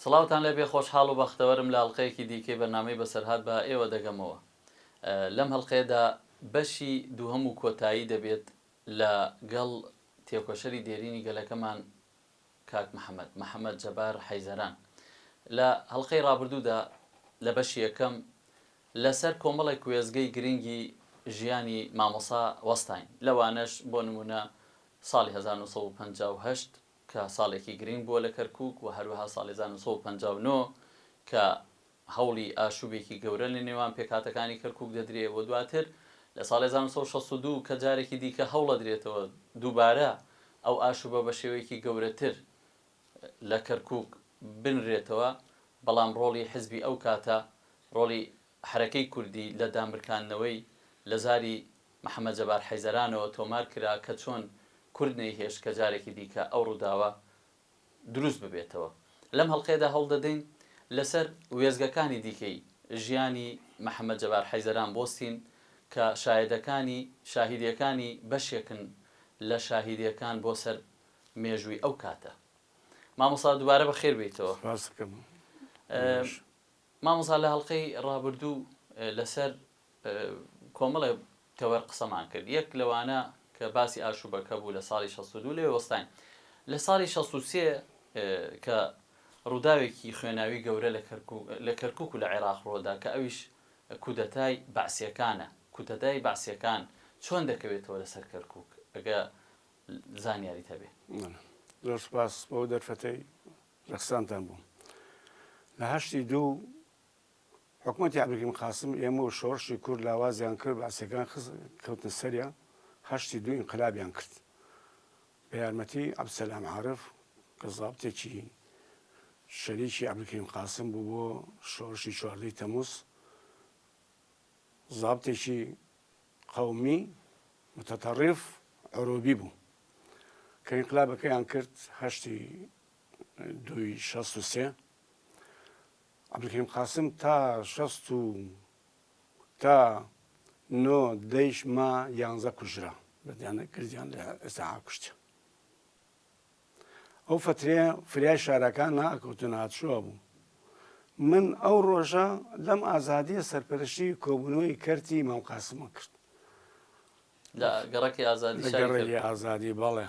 سڵاوتان لێبێ خۆشحاڵ و بەختەوەرم لە ئەڵقەیەکی دیکەی بەرنامەی بەسەرهات بە ئێوە دەگەمەوە لەم هەڵقەیەدا بەشی دووهەم و کۆتایی دەبێت لە گەڵ تێکۆشەری دێرینی گەلەکەمان کاک محەمەد، محەمەد جەبار حەیزەران، لە هەڵقەی ڕابردوودا لە بەشی یەکەم لە سەر کۆمەڵێک وێستگەی گرینگی ژیانی مامۆسا وەستاین لەوانەش بۆ نموونە ساڵی هەزار و نۆ سەد و پەنجا و هەشت کە ساڵێکی گرینگ بووە لە کەرکووک و هەروەها ساڵی هەزار و نۆ سەد و پەنجا و نۆ کە هەوڵی ئاشوبێکی گەورە لە نێوان پێکهاتەکانی کەرکوک دەدرێ و دواتر لە ساڵی هەزار و نۆ سەد و شەست و دوو کە جارێکی دیکە هەوڵەدرێتەوە دووبارە ئەو ئاشوبە بە شێوەیەکی گەورەتر لە کەرکوک بنرێتەوە بەڵام ڕۆڵی حزبی ئەو کاتە ڕۆڵی حەرەکەی کوردی لە دامرکاندنەوەی لە زاری محمد جەبار حەیدەرانەوە تۆمار کرا کە چۆن کورد نەیهێشت کە جارێکی دیکە ئەو ڕوداوە دروست ببێتەوە. لەم هەڵقەیەدا هەوڵدەدەین لەسەر وێستگەکانی دیکەی ژیانی محەمەد جەبار حەیزەران بۆستین کە شایەدەکانی شاهیدیەکانی بەشێکن لە شاهیدیەکان بۆ سەر مێژووی ئەو کاتە. مامۆستا دوبارە بەخێر بێیتەوە. سپاست دەکەم. مامۆستا لە هەڵقەی ڕابردوو لەسەر کۆمەڵێ تەوەر قسەمان کرد یەک لەوانە کە باسی ئاشوبەکە بوو لە ساڵی شەست و دوو لێ وەستاین لە ساڵی شەست و سێ کە ڕووداوێکی خوێناوی گەورە لە کەرکوک لە کەرکوک و لە عێراق ڕۆدا کە ئەویش کودەتای بەعسیەکانە کوتەدای بەعسیەکان چۆن دەکەوێتەوە لەسەر کەرکوک ئەگە زانیاریت هەبێ. زۆر سوپاس بۆ ئەو دەرفەتەی. ڕەخساندتان بووم لە هەشتی دوو حکومەتی عبدالکریم قاسم ئێمە و شۆڕشی کورد لاوازیان کرد بەعسیەکان خست کەوتنە سەریان هەشتی دوو ئینقلابیان کرد بە یارمەتی عبدسەلام عارف کە زابتێکی شەریکی عبدالکریم قاسم بوو بۆ شۆڕشی چواردەی تەموز زابتێکی قەومی متتەڕف عروبی بوو کە ئینقلابەکەیان کرد هەشتی دووی شەست و سێ عەبدولکەریم قاسم تا شەست و تا نۆ دەیش ما یانزە کوژرا بەدیانە کردیان لە ئێستا کوشتیان ئەو فترێ فریای شارەکان ناکەوتن هاتشوە بوو من ئەو ڕۆژە لەم ئازادیە سەرپەرشی کۆبوونەوەی کەرتی مام قاسمە کرد لە گەڕکی ئازادی ئازادی بەڵێ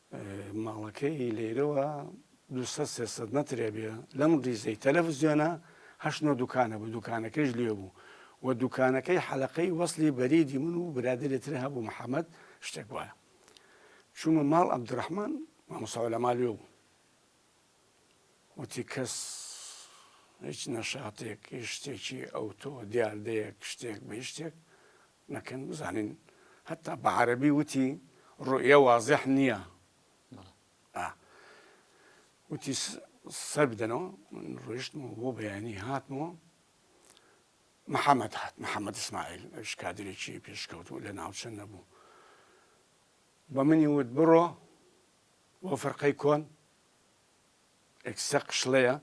ماڵەکەی لەیرەوە دوو سەد سێ سەد مەترێ بێ لەم ڕیزەی تەلەفزیۆنە هەشت نۆ دوکانە بوو دوکانەکەیش لێ بوو و دوکانەکەی حەلەقەی وەسلی بەریدی من و برادەرێ تر هەبوو محەمەد شتێک وایە چوومە ماڵ عەبدوڕەحمان مامۆسا عولەما لێ بوو وتی کەس هیچ نەشاتێک هیچ شتێکی ئەوتۆ دیاردەیەک شتێک بە شتێک نەکەن بزانین هەتا بە عەرەبی وتی ڕوئیە وازح نیە ئا وتی سەر بدەنەوە من ڕۆیشتم و بۆ بەیانی هاتمەوە محەممەد هات محەممەد ئسماعیل ئەوش کادرێکی پێشکەوت و لە ناوچە نەبوو بە منی وت بڕۆ بۆ فەرقەی کۆن ئەکسە قشڵەیە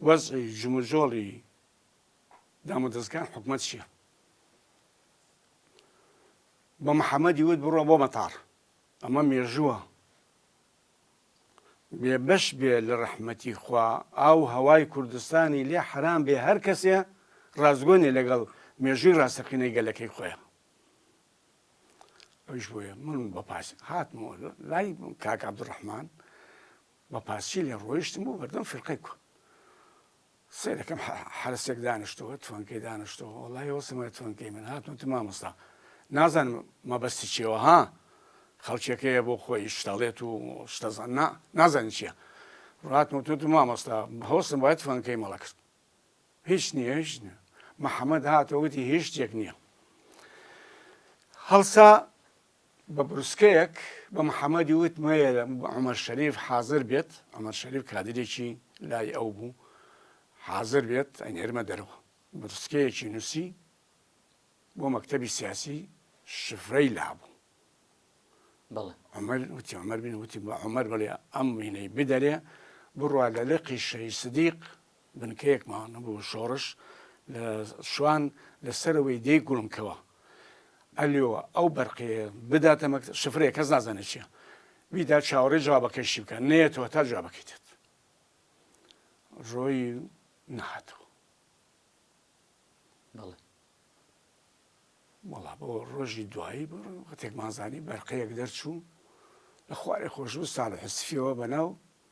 وەزعی جموجۆڵی دامودەزگان حکومەت چیە بە محەمەدی وت بڕۆ بۆ مەتاڕ ئەمە مێژووە بێ بەش بێ لە ڕەحمەتی خوا ئاو هەوای کوردستانی لێ حرام بێ هەر کەسێ ڕازگۆنێ لەگەڵ مێژووی ڕاستەقینەی گەلەکەی خۆیان ئەوش بۆیە من بە پاس هاتمەوە لای کاک عبدڕحمان بە پارچەی لێ ڕۆیشتم بۆ بەردەم فیرقەی کو سەیرەکەم حەرەسێک دانیشتەوە توانکەی دانیشتەوە وەڵای وەسمای توانکەی من هاتم تو مامۆستا نازانم مەبەستی چیەوە ها خەڵکیەکەیە بۆ خۆی شتەڵێت و شتەزان نا نازانین چییە ڕاتمە تو تو مامۆستا هەوسم باید توانکەی مەڵە کرد هیچ نییە هیچ نیە محەممەد هاتەوەتی هیچ شتێک نییە هەڵسا بە بروسکەیەک بە محەمەدی وت مەیەلە عومەر شەریف حازر بێت، عومەر شەریف کادیرێکی لای ئەو بوو، حازر بێت ئەینێرمە دەرەوە. بروسکەیەکی نووسی بۆ مەکتەبی سیاسی شفرەی لابوو. بەڵێ. عومەر وتی عومەر بن وتی بە عومەر بەڵێ ئەم وینەی بدەرێ بڕوا لە لقی شەهید سدیق بنکەیەکمان بۆ شۆڕش لە شوان لە سەرەوەی دێی گوڵمکەوە ئەلیۆوە ئەو بەرقەیە بداتە مەک شفرەیە کەس نازانێت چیە بیدا چاوەڕێ جوابەکەشی بکە نەیەتەوە تا جوابەکەی دێت ڕۆی نەهاتەوە بەڵێ وەڵا بۆ ڕۆژی دوایی بۆ وەتێکمانزانی بەرقەیەک دەرچوو لە خوارێ خۆشبوو ساڵ حسفیەوە بەناو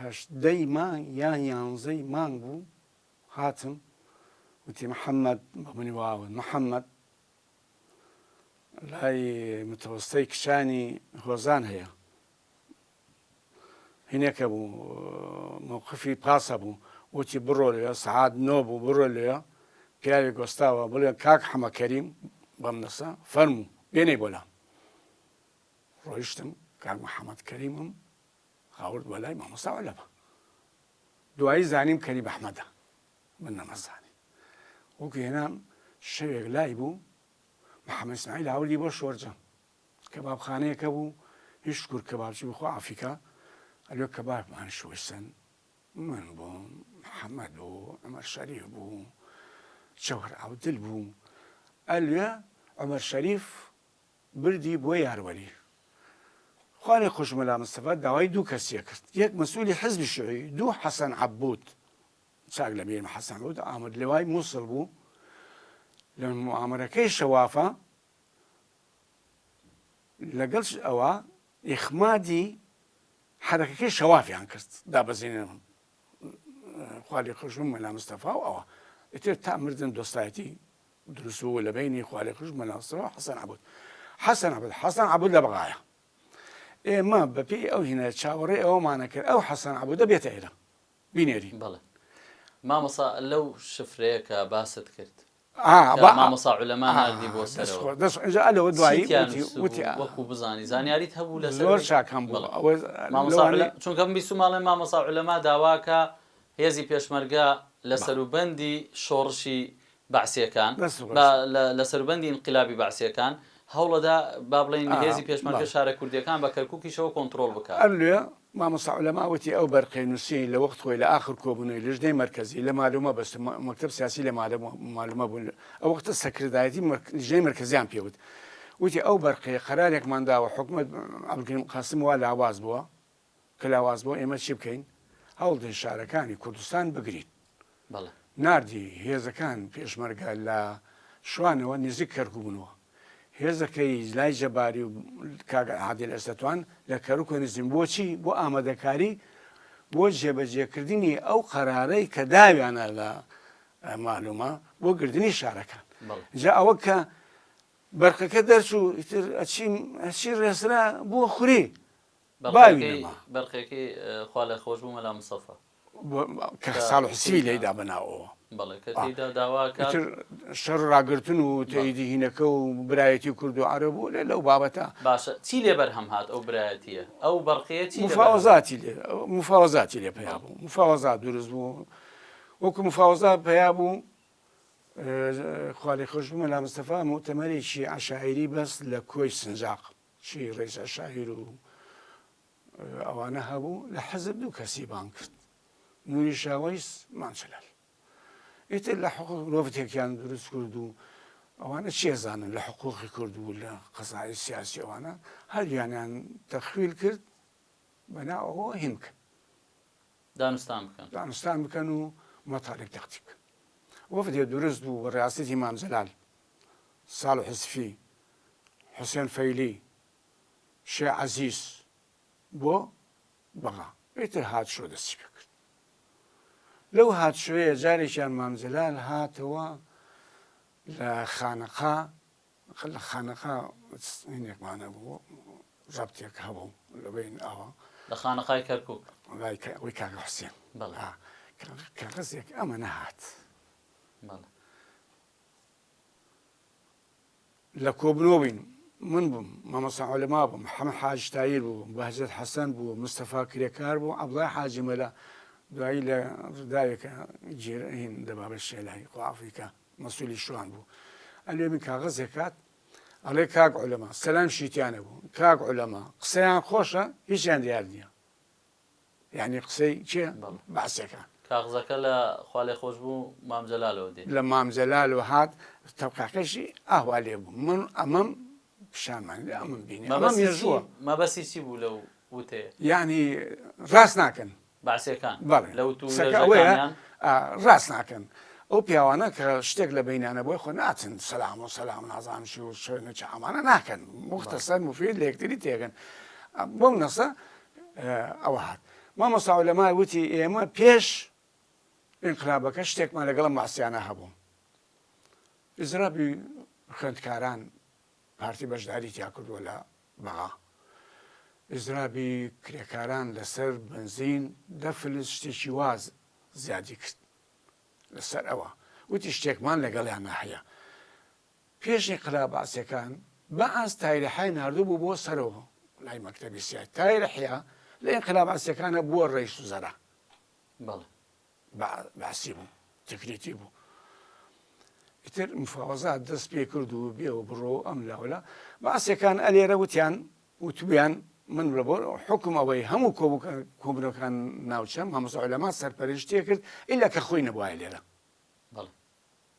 هەژدەی مانگ یا یانزەی مانگ بوو هاتم وتی محەممەد بە منی واوت محەممەد لای متەوەستەی کچانی هۆزان هەیە هینێکە بوو مووقفی پاسە بوو وتی بڕۆ لێ سعات نۆ بوو بڕۆ لێ پیاوی گۆستاوە بڵێ کاک حەمەکەریم بەم نەسە فەرموو بێنەی بۆلام ڕۆیشتم کاک محەمەد کەریمم هاورد بۆ لای مامۆستا عولەما دوایی زانیم کەریم ئەحمەدە من نەمەزانی وەکو هێنام شەوێک لای بوو محەممەد سمایل هاوردی بۆ شۆرجە کەبابخانەیەکە بوو هیچ شکور کەبابچی بخوا ئافیکا ئەلۆ کەبابمان شوستن من بووم محەممەد بوو ئەمەر شەریف بوو چەوەر ئەودل بوو ئەلوێ ئەمەر شەریف بردی بۆ یاروەلی. خوا لێ خۆش مەلا مستەفا داوای دوو کەسیە کرد یەک مەسولی حزبی شوعی دوو حەسەن عەبوود چاک لە بیرمە حەسەن عەبوود ئامر لەوای موسڵ بوو لە موئامەرەکەی شەوافە لەگەڵ ئەوە ئیخمادی حەرەکەکەی شەوافیان کرد دابەزینەوە خوا لێ خۆش بوو مەلا مستەفا و ئەوە ئیتر تا مردن دۆستایەتی دروست بوو لە بەینی خوالێخوش مەلاستڕ و حەسەن عەبود حەسەن عەبود حەسەن عەبود لە بەغایە ئێمە بە پێی ئەو هینە چاوەڕێ ئەوەمانە کرد ئەو حەسەن عەبودە بێتە ئێرە بینێری بەڵێ مامۆسا لەو شفرەیە کە باست کرد مامۆسا علەما نردی بۆ سەرەوە دوایی وەکو بزانانی زانیاریت هەبوو لە زۆر شاکەم چونکەم بیست و ماڵێ مامۆسا علەما داواکە هێزی پێشمەرگە لە سەروبەندی شۆڕشی بەعسییەکان، با لە سەروبەندی ئینقلابی بەعسییەکان، هەوڵەدا با بڵێین هێزی پێشمەرگە شارە کوردییەکان بە کەرکووکیشەوە کۆنتڕۆڵ بکا. ئەرلێ، مامۆستا عولەما وتی، ئەو بەرقەی نووسیی لە وەخت خۆی لە ئاخر کۆبوونەوەی لیژنەی مەرکەزی، لە مالۆ مەبەستە، مەکتەب سیاسی لە مالۆ مالۆ مەبوون، ئەو وەختە سەکردایەتی لیژنەی مەرکەزییان پێ وت، وتی، ئەو بەرقەیە قەرارێکمان داوە، حکومەت عەبدولکەریم قاسم وا لاواز بووە، کە لاواز بوو ئێمە چی بکەین؟ هەوڵدەین شارەکانی کوردستان بگرین. بەڵێ. ناردی هێزەکان پێشمەرگە لە شوانەوە نزیک کەرکوک بوونەوە. هێزەکەی لای جەباری و کاک عادل ئەسەتوان لە کەرکوکە نزیک بۆچی؟ بۆ ئامادەکاری بۆ جێبەجێکردنی ئەو قەرارەی کە داویانە لە مالومە بۆ گردنی شارەکان. بەڵێ. جا ئەوە کە بەرقەکە دەرچوو ئیتر ئەچی ئەچی ڕێسرا بۆ خوری. باوی نەما. بەرقەکەی خوا لێ خۆش بوو مەلا مستەفا. کە ساڵح حسێنی لێیدا بە ناوەوە. بەڵێ کە تێیدا داوا ئەکات. ئیتر شەڕ و ڕاگرتن و تەیدی هینەکە و برایەتی کورد و عەرەب و لێ لەو بابەتە. باشە چی لێ بەرهەم هات ئەو برایەتییە؟ ئەو بەرقییە چی لێ بەرهەم هات؟ مفاوەزاتی لێ، مفاوەزاتی لێ پەیا بوو. مفاوەزات دروست بوو. وەکوو مفاوەزات پەیا بوو، خوا لێ خۆش بوو مەلا مستەفا موئتەمەرێکی عەشایری بەست لە کۆی سنجاق. چی ڕیزە شاعیر و ئەوانە هەبوو لە حزب دوو کەسی بانگ کرد نوری شاوەیس مان جەلال ئیتر لە حقوق مرۆڤ تێکیان دروست کرد و ئەوانە چێزانن لە حقوقی کرد و لە قەزای سیاسی ئەوانە هەردویانیان تەخویل کرد بەنا ئەوە هین بکەن دانوستان بکەن دانوستان بکەن و مەتالیب تەقتی بکەن وەفدێ دروست بوو بە ڕاستەتی مام جەلال ساڵح سفی، حوسێن فەیلی، شێخ عەزیز بۆ بەغا. ئیتر هاتشۆ دەستی پێکرد. لەو هاتشۆیە جارێکیان مام جەلال هاتەوە لە خانەقا، لە خانەقا چینێکمان هەبوو، ڕەبتێک هەبوو لە بەین ئاوا. لە خانەقای کەرکووک. لای ئەوی کاک حوسێن. بەڵێ. کاغەزێک ئەمە نەهات. بەڵێ. لە کۆبنەوە بووین، من بووم، مامۆستا عولەما بوو، محەمەد حاجی تایر بوو، بەهجەت حەسەن بوو، مستەفا کرێکار بوو، عەبدوڵای حاجی مەلا دوایی لە ڕوداوێکە جێر هین دەبا بە شێلای قوافیکە مەسولی شوان بوو ئەلێ من کاغەزێک کات ئەڵێ کاک عولەما سەلام شیتیانە بوو کاک عولەما قسەیان خۆشە هیچیان دیار نییە یانی قسەی کێ بەعسەکان. کاغزەکە لە، خوالێخۆشبوو، مام جەلالەوە دێ. لە مام جەلالەوە هات تەبقاکەشی ئاوا لێ بوو من ئەمەم پیشانمان دا ئەمەم بینی ئەمە مێژووە. مەبەستی چی بوو لەو وتەیە؟ یانی ڕاست ناکەن. بەعسیەکان؟ بەڵێ. لە وتو وێژەکانیان؟ ڕاست ناکەن. ئەو پیاوانە کە شتێک لە بەینانە بۆی خۆ ناچن سەلام و سەلام نازانم چی و شوێنە چ ئەمانە ناکەن موختەسەر موفید لە یەکتری تێگەن بۆم نەسە ەوە هات. مامۆستا عولەما وتی ئێمە پێش ئینقلابەکە شتێکمان لەگەڵ ئەم مەعسیانە هەبوو. ئیزرابی خوێندکاران پارتی بەشداری تیا کردووە لە بەغا. ئیزرابی کرێکاران لەسەر بنزین دە فلس شتێکی واز زیادی کرد لەسەر ئەوە وتی شتێکمان لەگەڵیانە هەیە پێش ئینقلاب بەعسیەکان بەعس تایرەحیای ناردبوو بۆ سەرو لای مەکتەبی سیاسی، تایرەحیا لە ئینقلاب بەعسیەکانا بووە رەیس وزەرا. بەڵێ. بە بەعسی بوو تکریتی بوو. ئیتر مفاوەزات دەست پێ کرد و بێ و بڕۆ و ئەم لا و لا. بەعسیەکان ئەلێرە وتیان وتبوویان من لە بۆ حوکم ئەوەی هەموو کۆبووکە کۆبنەوەکان ناوچەم مامۆستا عولەما سەرپەرشتیە کرد ئیلا کە خۆی نەبوایە لێرە. بەڵێ.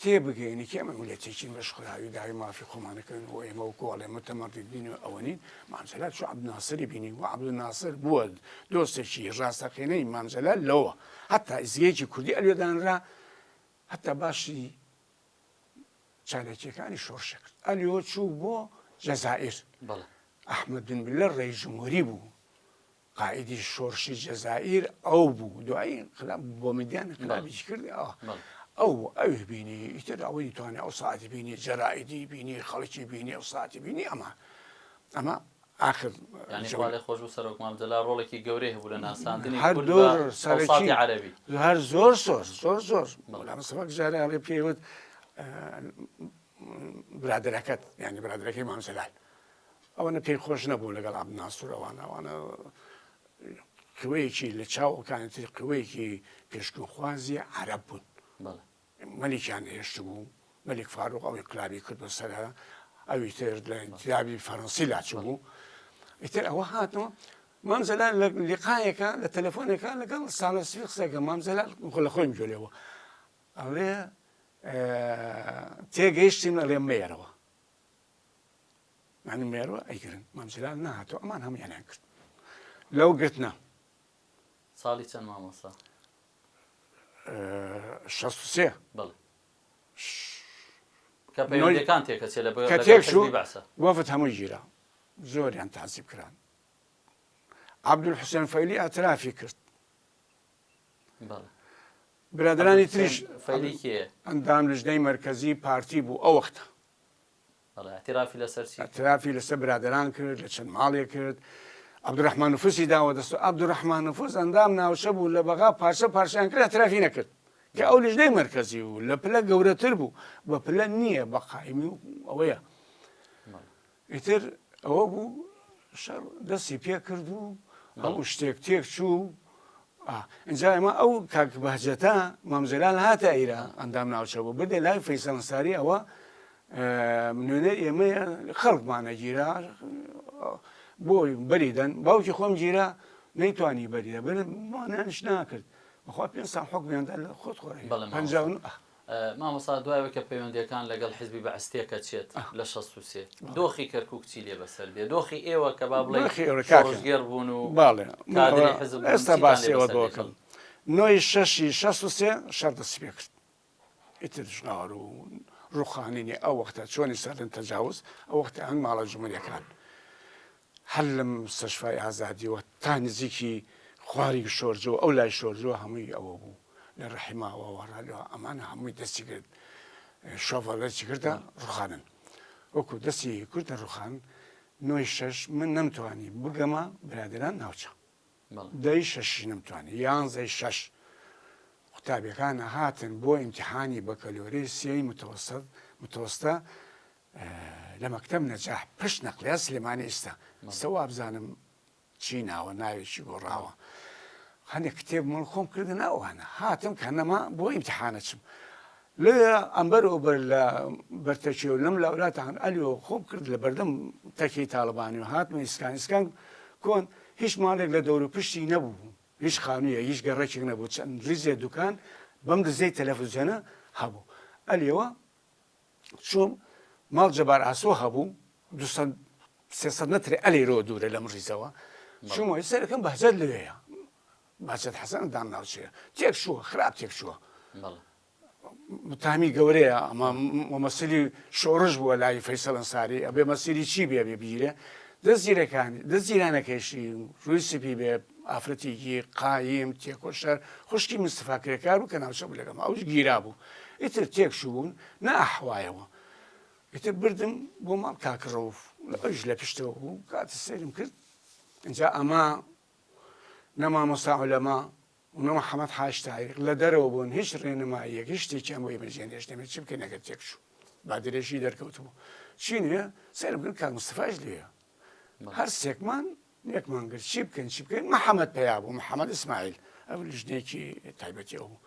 تێبگەین کە ئێمە میللەتێکین بەشخوراوی داوای مافی خۆمان دەکەین و ئێمە وەکوو ئەڵێ موتەمەڕددین و ئەوە نین، مام جەلال چوو عەبدولناسری بینی و عەبدولناسر بووە دۆستێکی ڕاستەقینەی مام جەلال لەوە هەتا ئیستگەیەکی کوردی ئەلوێ دانرا هەتا باسی چالاکییەکانی شۆڕشێک کرد ئەلیۆ چوو بۆ جەزائیر ئەحمەد بن بلە ڕێی جمهوری بوو قائیدی شۆرشی جەزائیر ئەو بوو دوایی انقلاب بۆ میدیان انقلابیش کرد ئەو ئەوی بینی ئیتر ئەوەی توانێ ئەو ساعتی بینی جەرائیدی بینی خەڵکی بینی ئەو ساعتی بینی ئەمە ئەمە ئاخر لە خۆش و سەرۆک مامجللا ڕۆڵێکی گەورەی هەبوو لە ناساندنی سەرکی عەربی هەر زۆر زۆر زۆر زۆر مەولام سەفەک جارە هەڵێ پێوت برادەکەت یانی برادەکەی مامجلال ئەوەنە پێی خۆش نەبوو لەگەڵ عبد ناسور ئەوانە ئەوانە قوەیەکی لە چاوەکانی تر قوەیەکی پێشکەخوازی عرب بوون مەلیکیان هێشت بوو مەلیک فاروق ئەوەی قلابی کرد بە سەرە ئەوی تر لە انتیابی فەرەنسی لاچ بوو ئیتر ئەوە هاتەوە مام زەلال لە لقایەکە لە تەلەفۆنەکە لەگەڵ ساڵە سوی قسەکە مام زەلال خۆ لە خۆیم جۆلێەوە ئەڵێ تێگەیشتیم ئەڵێ مێرەوە یعنی مێرۆ ئەیگرن مام جلال نەهاتەوە ئەمان هەموویانیان کرد لەو گرتنە ساڵی چەند مامۆسا شەست و سێ بەڵێ کە پەیوەندەکان تێکەچێ لە کە تێکشو بەسە وەفت هەموو گیرا زۆریان تاسیب کران عبدول حوسێن فەیلی ئەترافی کرد برادرانی تریش فەیلی کێ ئەندام لژنەی مرکزی پارتی بوو ئەو وەختە ئەترافی لەسەر چی کرد؟ ئەترافی لەسەر برادەران کرد، لە چەند ماڵێ کرد. عەبدولرەحمان نفوسی داوە دەست و عەبدولرەحمان نفوس ئەندام ناوچە بوو لە بەغا پارچە پارچەیان کرد ئەترافی نەکرد کە ئەو لیژنەی مەرکەزی بوو لە پلە گەورەتر بوو بە پلە نییە بە قایمی و ئەوەیە ئیتر ئەوە بوو شەڕ دەستی پێ کرد و هەموو شتێک تێک چوو ئا ئینجا ئێمە ئەو کاک بەهجەتە مام جەلال هاتە ئیرە ئەندام ناوچە بوو بردە لای فەیسەڵ ئەنساری ئەوە نوێنەر ئێمەیە خەڵکمانە گیرا بۆی بەری دەن باوکی خۆم گیرا نەیتوانی بەری دەبن مانیانش ناکرد بەخوا پێ ساڵ حکمیاندا لە خۆت خۆی بەڵێ پەنجا و نۆ. مامۆستا دوای ئەوەی کە پەیوەندیەکان لەگەڵ حیزبی بەعس تێکەچێت لە شەست و سێ دۆخی کەرکوک چی لێ بەسەر دێ دۆخی ئێوە کە با بڵێی دۆخی ئێوە کاکە شۆڕشگێڕ بوون و باڵێ کادری حیزب بوون ئێستا چیتان لێ باسی بەسەر ئەوە دێ دۆکەم خەڵک نۆ ی شەش ی شەست و سێ شەڕ دەستی پێ کرد ئیتر ژغار و ڕووخانینی ئەو وەختە چۆنی سەردەم تەجاوز ئەو وەختە هەنگ ماڵە جمهوریەکان هەر لە مستەشفای ئازادیەوە تا نزیکی خواری شۆرجەوە ئەو لای شۆرجەوە هەمووی ئەوە بوو لە رەحیماوە وەڕالۆ ئەمانە هەمووی دەستی گرت شۆڤەڵێکی کردە ڕوخانن وەکو دەستی کردە ڕوخان نۆی شەش من نەمتوانی بگەمە برادران ناوچە دەی شەشی نەمتوانی یانزەی شەش قوتابیەکانە هاتن بۆ ئیمتحانی بەکەلۆری سێی متەوەسەت متۆستە لە مەکتەم نەجاح پشت نەقلیا سلێمانی ئیستا ئیستا وابزانم چی ناوە ناوێکی گۆڕاوە هەندێک کتێب مڵ خۆم کردە ناوانە هاتم کە نەما بۆ ئیمتحانە چم لێ ئەمبەر و بەر لە بەرتەکی و لەم لاولاتان ئەلیۆ خۆم کرد لە بەردەم تەکی تاالبانی و هاتمە ئیسکان ئسکان کۆن هیچ ماڵێک لە دەور و پشتی نەبوو هیچ خانوویە هیچ گەڕێکێک نەبوو چەند ریزێ دوکان بەم دزەی تەلەفزیۆنە هەبوو ئەلیەوە چووم ماڵ جەبار ئاسۆ هەبوو دوو سەد سێ سەد مەترێ ئەلێرەوە دوورە لەم ڕیزەوە چوومەوە هی سەرەکەم بەهجەت لەوێیە باچەت حەسەن دام ناوچەیە تێک شووە خراپ تێک شووە بەڵێ متامی گەورەیە ئەمە مەسیری شۆڕش بووە لای فەیسەڵ ئەنساری ئەبێ مەسیری چی بێ بێ بیرێ دەست زیرەکانی دەست زیرانەکەیشی ڕووی سپی بێ ئافرەتێکی قایم تێکۆشەر خوشکی مستفاکرێکار بوو کە ناوچە بوو لەگەڵ ئەوش گیرا بوو ئیتر تێک شوون نە ئەحوایەوە ئیتر بردم بۆ ماڵ کاک ڕەوف ئەویش لە پشتەوە بوو کاتە سەیرم کرد ئینجا ئەما نە مامۆستا عولەما و نە محەمەد حاج تاریق لە دەرەوە بوون هیچ ڕێنماییەک هیچ شتێکیان بۆی بەجێ نێشتەمێت چی بکەین ئەگەر تێک شوو با درێژی دەرکەوتبوو چی نوێ سەیرم کرد کاک مستەفاش لێیە هەر سێکمان نێکمان گرت چی بکەین چی بکەین محەممەد پیا بوو محەممەد ئیسماعیل ئەو لژنێکی تایبەتی ئەو بوو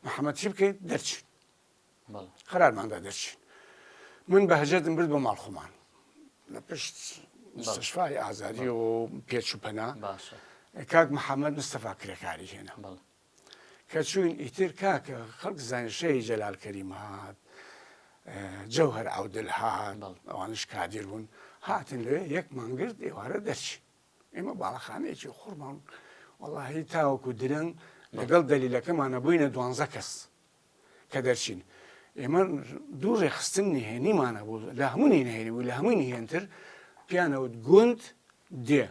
محەممەد چی بکەین دەرچین قرارماندا دەرچین من بەهجەتم برد بۆ ماڵخۆمان لە پشت مستشفای ئازادی و پێچ و پەنا کاک محەممەد مستەفا کرێکاری هێنا کە چوین ئیتر کاکە خەڵک زانین شێی جەلال کەریم هات جەوهەر عەودل هات ئەوانش کادیر بوون هاتن لەوێ یەکمان گرت ئێوارە دەرچین ئێمە باڵەخانەیەکی قوڕمان وەڵاهی تاوەکو درەنگ لەگەڵ دەلیلەکەمانە بووینە دوانزە کەس کە دەرچین ئێمە دوو ڕێکخستن نهێنیمان هەبوو لە هەموو نهێنی بوو لە هەمووی نهێنتر پیانەوت گوند دێ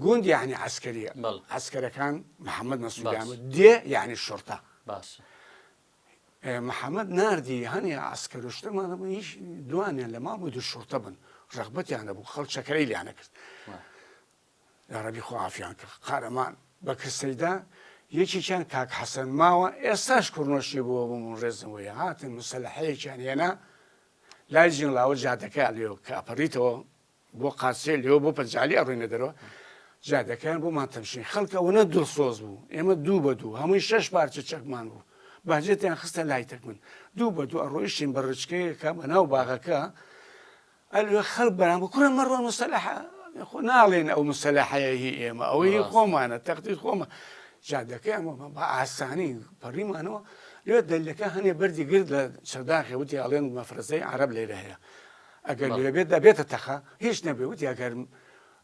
گوند یعنی عسکەریە عسکەرەکان محەممەد مەسوودیان دێ یعنی شرتە باش محەممەد نردی هەنی ئاسکەروشتمان بوو هیچ دوانیان لە ماڵ بوو دوو شورتە بن ڕغبەتیانە بوو خەڵ چەکەی لیانە کرد یاڕەبی خوا عافیان کە قارەمان بەکر سەیدا یەکێکیان کاک حەسەن ماوە ئێستاش کوڕنۆشی بووە بووم و ڕێزم وەیە هاتن مسەلحەیەکیان هێنا لای جنڵاوە جادەکە لێو کە ئەپەڕیتەوە بۆ قاسێ لێو بۆ پەنجالی ئەڕوینە دەرەوە جادەکەیان بۆ ماتەمشین خەڵکە وەنە دڵسۆز بوو ئێمە دوو بە دوو هەمووی شەش پارچە چەکمان بوو باجێتیان خستە لای تەک من دوو بە دوو ئەڕۆیشتین بە ڕچکەیەکە بە ناو باغەکە ئەلێ خەڵک بەران بە کورە مەڕۆن مستەلاحە خۆ ناڵێن ئەو مستەلاحەیە هی ئێمە ئەوە هی خۆمانە تەختیت خۆمە جادەکەی ئەمە بە ئاسانی پەڕیمانەوە لێ دەلەکە هەنێ بەردی گرد لە چەرداخێ وتی ئاڵێن مەفرەزەی عرب لێرە هەیە ئەگەر لێبێت دەبێتە تەخە هیچ نەبێ وتی ئەگەر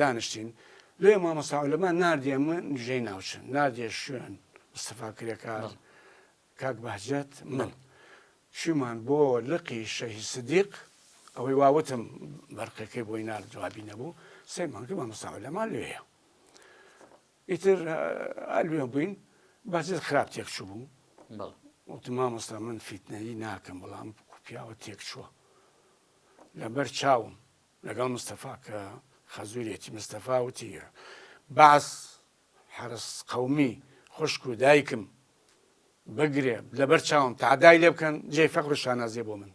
دانشتین لێ مامۆستا عولەما ناردیە من نژەی ناوچن ناردیە شوێن مستەفا کرێکار کاک بەهجەت من چیمان بۆ لقی شەهی سدیق ئەوەی واوتم بەرقەکەی بۆی نار جوابی نەبوو سێ مانگە مامۆستا عولەما لێە ئیتر ئەلوێ بووین بەجێت خراپ تێکچوو بوو وتم مامۆستا من فیتنەی ناکەم بەڵام پیاوە تێکچووە لەبەر چاوم لەگەڵ مستەفا کە خەزوورێتی مستەفا وتی بەعس حەرس قەومی خوشک و دایکم بگرێ لەبەر چاوم تادای لێ بکەن جێ فەقر و شانازێ بۆ من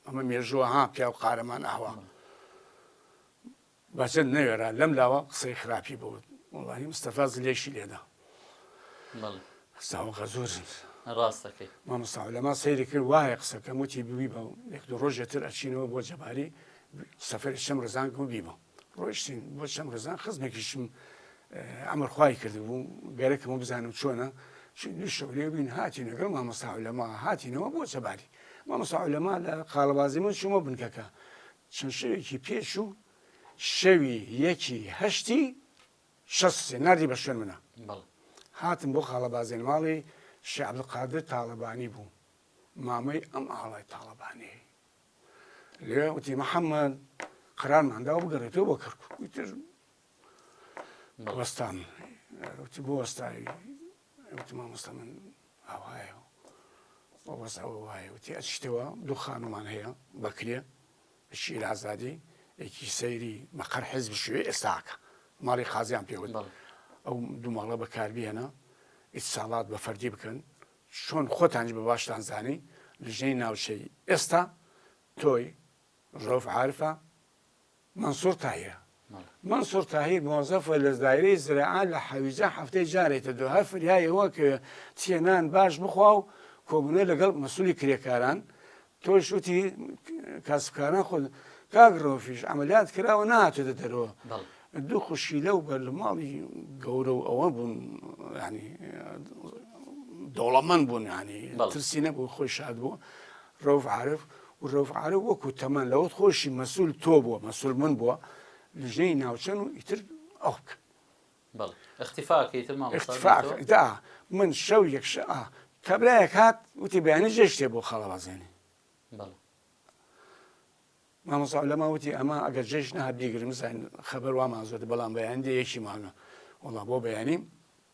ئەمە مێژووە ها پیا و قارەمان ئاوا بەچەند نەوێرا لەم لاوە قسەی خراپی بوت وڵی مستەفاز لێشی لێدا ساوەخە زۆر ڕاستەکەی مامۆستا لەما سەیری کرد وایە قسەکەم وتی بوی بە یەک دو ڕۆژێ تر ئەچینەوە بۆ جەباری سەفری شەم ڕزان کە بیبە ڕۆشتین بۆ شەم ڕزان خزمێکیشم ئەمەرخوای کردبوو گەرەکەم و بزانم چۆنە شەولێ بووین هاتی نەگەڵ مامۆستا لەما هاتینەوە بۆ جەباری مامۆستا لەما لە قاڵبازی من شومە بنکەکە چەند شەوێکی پێش و شەوی یەکی هەشتی شەست و سێ ناردی بە شوێن منا. هاتم بۆ خاڵە بازێن ماڵی شێ عبدالقادر تاڵەبانی بوو مامەی ئەم ئاڵای تاڵەبانیەی لێ وتی محەممەد قەرارمان داوە بگەڕێتەوە بۆ کەرکک وتر وەستام وتی بۆ وەستاوی وتی مامۆستا من ئاوایە و بەس ئەوە وایە وتی ئەچیتەوە دوو خانومان هەیە بەکرێ شیر ئازادی یەکی سەیری مەقەر حزب شوێ ئێستاکە ماڵی قازیان پێوت ئەو دوو ماڵە بەکاربیێنە ئیساڵات بە فەردی بکەن چۆن خۆتانج بە باشتان زانی لژنەی ناوچەی ئێستا تۆی ڕۆف عرفە مەنسوور تاهیر مەنسوور تاهیر مۆزەفە لە دایرەی زراعە لە حەویجە هەفتەی جارێ کە دۆهە فریای ئەوە کە چیە نان باش بخوا و کۆبوونە لەگەڵ مەسوولی کرێکاران تۆش وتی کاسبکاران خۆ کاک ڕۆفیش عملیات کراوە ناتێتە دەرەوە دوو خوشیلە و بەرلماڵی گەورە و ئەوە بوون ینی دەوڵەمەند بوون ینی ترسی نەبوو خۆی شاد بوو رەوف عارف، و رەوف عارف وەکو تەمەن لەوەت خۆشی مەسول تۆ بووە مەسول من بووە لژنەی ناوچەن و ئیتر ئەو بکەن. بەڵێ اختیفا ئەکەی ئیتر مامۆستا دکتۆر. اختیفا ئەکەم ئیتر ئا من شەو یەک شە ئا کابرایەک هات وتی بەیانی جێ شتێ بۆ خاڵەوازێنێ. بەڵێ. مامۆستا عولەما وتی ئەمە ئەگەر جێش نەهات بیگرن بزانین خەبەر وامان زۆر بەڵام بەیانی دێ یەکی مانگە وەڵا بۆ بەیانی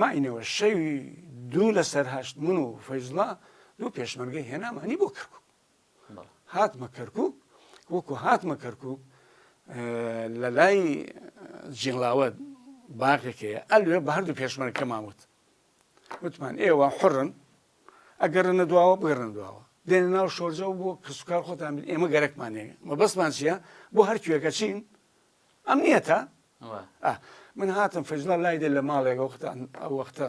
ماینەوە شەوی دوو لەسەر هەشت من و فەیزوڵا دوو پێشمەرگەی هێنامانی بۆ کەرکوک هاتمە کەرکوک وەکو هاتمە کەرکوک لە لای جیڵاوە باغێکەیە ئەلوێ بە هەردوو پێشمەرگەکە ماوت وتمان ئێوە حڕن ئەگەرنە دواوە بگەرن دواوە دێنە ناو شۆرجە و بۆ کەسوکار خۆتان بن ئێمە گەرەکمانەیە مە بەسمان چیە بۆ هەرکوێکە چین ئەم نیەتە من هاتم فەجلا لای دێ لە ماڵێک وەختان ئەو وەختە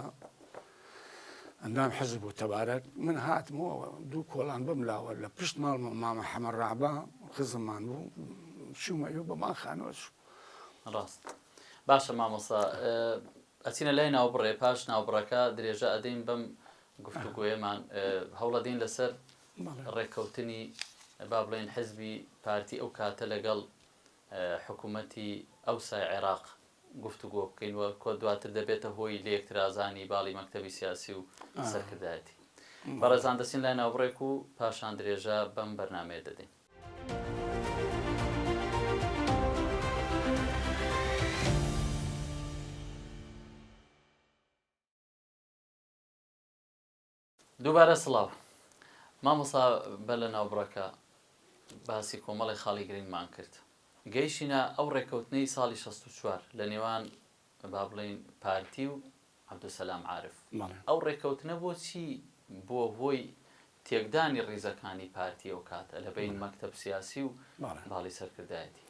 ئەندام حەزب بوو تەبارەت من هاتمەوە دوو کۆڵان بم لاوە لە پشت ماڵمە مامە حەمە ڕابا خزممان بوو شومە و بەمان خانۆش ڕاست باشە مامۆسا ئەچینە لای ناو بڕێ پاش ناو بڕەکە درێژە ئەدەین بەم گفتوگوێمان هەوڵەدەین لەسەر ڕێککەوتنی با بڵێن حزبی پارتی ئەو کاتە لەگەڵ حکومەتی ئەوسای عێراق گفتوگۆ بکەین و کۆ دواتر دەبێتە هۆی لێکترازانی باڵی مەکتەبی سیاسی و سەرکردایەتی. بەڕێزان دەچین لای ناوبڕێک و پاشان درێژە بەم بەرنامەیە دەدەین. دووبارە سڵاو مامۆستا بە لە ناوبڕەکە باسی کۆمەڵی خاڵی گرنگمان کرد گەیشینە ئەو ڕێکەوتنەی ساڵی 64 لە نێوان با بڵین پارتی و عبدسلام عاعرف ئەو ڕێکەوتنە بۆ چی بۆ هۆی تێکدانی ڕیزەکانی پارتی ئەو کاتە لە بین مەکتب سیاسی و باڵی سەرکردایەتی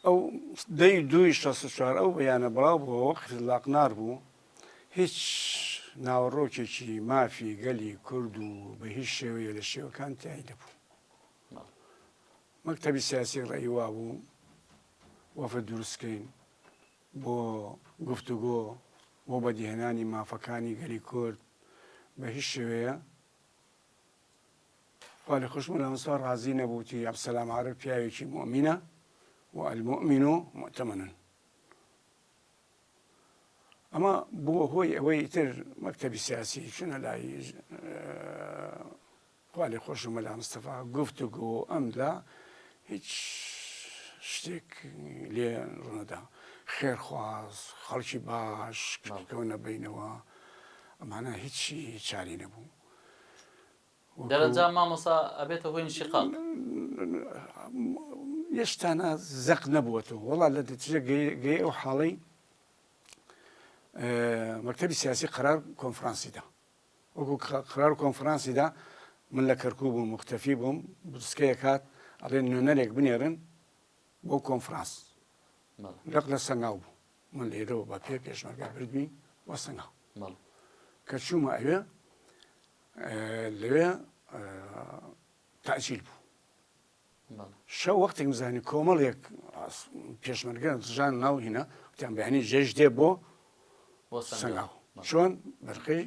ئەو دە ی دوو ی شەست و چوار ئەو بەیانە بڵاو بووە وەک قزلاقنار بوو، هیچ ناوەڕۆکێکی مافی گەلی کورد و بە هیچ شێوەیە لە شێوەکان تای نەبوو. مەکتەبی سیاسی ڕێی وا بوو وەفد دروست بکەین بۆ گفتوگۆ بۆ بەدیهێنانی مافەکانی گەلی کورد بە هیچ شێوەیە خوا لە خوش ملا مصطفی ڕازی نەبوو وتی عبدالسلام عارف پیاوێکی مؤمنە و المؤمن مؤتمنن ئەمە بووە هۆی ئەوەی تر مەکتەبی سیاسی چونە لای خالی خۆش و مەلا مستەفا گفت و گۆ ئەمدا هیچ شتێک لێ ڕوونەدا خێرخواز خەڵکی باش کەونە بینەوە ئەمانە هیچی چاری نەبوو دەرەنجام مامۆستا ئەبێتە هۆی انشقاق. ئێستانا زەق نەبووەتەوە وەڵا لە نەتیجە گەی ئەو حاڵەی مەکتەبی سیاسی قەرار کۆنفرانسی دا وەکو قەرار کۆنفرانسی دا من لە کەرکوو بووم مختەفی بووم بسکەیە کات ئەڵێن نوێنەرێک بنێرن بۆ کۆنفرانس لەق لە سەنگاو بوو من لێرەوە بە پێ پێشمەرگە بردمی بۆ سنە کە چوومە ئەوێ لەوێ تاجیل بوو شە وەختێکم زانی کۆمەڵێک پێشمەرگە زژان ناو هینە تیان بەیانی جێش دێ بۆ بۆ سنگاو چۆن بەرقەی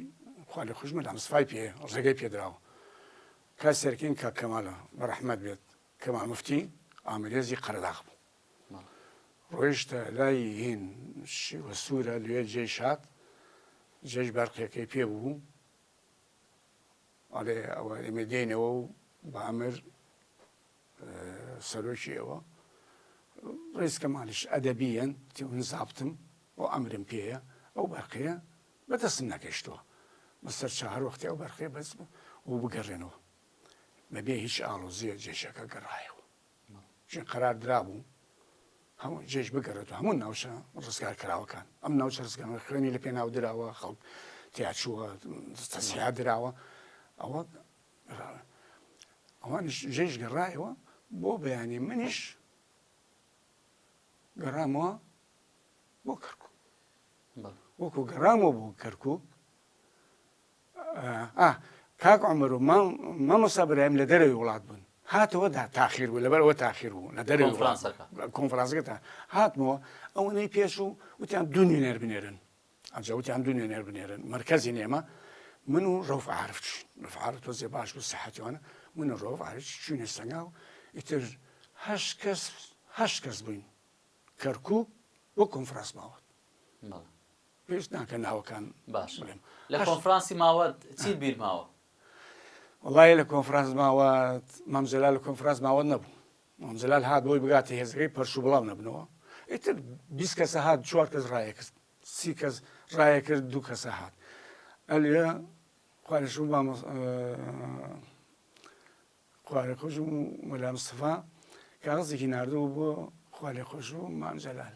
خوا لە خوشمە لەم سفای پێ ڕێگەی پێدراوە کە سەرکین کە کەمالە بەرەحمەت بێت کەما مفتی ئامرێزی قەرداغ بوو ڕۆیشتە لای هین شیوە سوورە لێ جێی شاد جێش بەرقیەکەی پێ بوو ئەڵێ ئەوە ئێمە دێنەوە و بە ئەمر سەرۆکی ئەوە ڕێزکە مالیش ئەدەبیەن تێون زابتم بۆ ئەمرم پێەیە ئەو بەرقەیە بەدەستم نەگەشتووە بەسەر چهر وەختی ئەو بەرقێ بەس و بگەڕێنەوە بەبێ هیچ ئاڵۆزیە جێشەکە گەڕایەوە چین قەرار درابوو هەموو جێژ بگەڕێت و هەموو ناوچە ڕزگار کراوەکان ئەم ناوچە ڕزگانەوە خوێنی لە پێناو دراوە خەڵک تیاچووە تەسیحا دراوە ئەوە ئەوانش جێژ گەڕایەوە بۆ بەیانی منیش گەڕامەوە بۆ کەرکک وەکو گەڕامەوە بۆ کەرکک ئا کاک عمر و مام مامۆستا برایم لە دەرەوی وڵات بوون هاتەوە دا تاخیر بوو لەبەر ئەوە تاخیر بوو لە دەرەوی وڵات بوو کۆنفرانسەکە تا هاتمەوە ئەوەنەی پێش و وتیان دوو نوێنەر بنێرن ئەجا وتیان دوو نوێنەر بنێرن مرکزی نێمە من و ڕەوف عارف چووین ڕەوف عارف تۆزێ باش بوو سەحەتیوانە من و ڕەوف عارف چووینە سەنگا و ئیتر هەشت کەس هەشت کەس بووین کەرکووک بۆ کۆنفرانس ماوە بەڵێ پێویست ناکە ناوەکان باش بڵێم. لە کۆنفرانسی ماوەت چیت بیر ماوە؟ وەڵاهی لە کۆنفرانس ماوەت مام جەلال لە کۆنفرانس ماوەت نەبوو. مام جەلال هات بۆی بگاتە هێزەکەی پەرش و بڵاو نەبنەوە. ئیتر بیست کەسە هات چوار کەس ڕایە کرد. سی کەس ڕایە کرد دوو کەسە هات. ئەلێ خوا لە شوو مام خوا لە خۆش و مەلا مستەفا کاغەزێکی ناردبوو بۆ خوا لە خۆش و مام جەلال.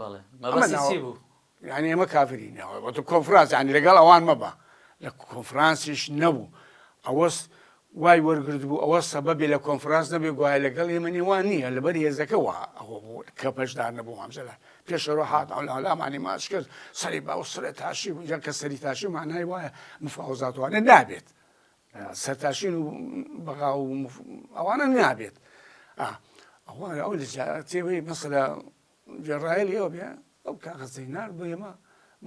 بەڵێ مەبەستی چی بوو؟ یانی ئێمە کافری ناوە وەتە کۆنفرانس یانی لەگەڵ ئەوان مەبە لە کۆنفرانسیش نەبوو ئەوەست وای وەرگرت بوو ئەوە سەبە بێ لە کۆنفرانس نەبێ گوایە لەگەڵ ئێمە نێوان نییە لەبەر هێزەکەەوە ئەوە بوو کە پەشدار نەبوو ئەمجلا پێشەوە هاات ئەولامانی ماچ کرد سەری باو سرە تاشی بوو جا کە سەری تاشی مانای وایە مفاوزاتوانێت نابێت سەرتاشین و بەغا و ئەوانە نابێت ئەوانە ئەو لەجارەتێوەی مەسەلا جێڕایلی ئەو بێ ئەو کاغەزەی نار بۆ ئێمە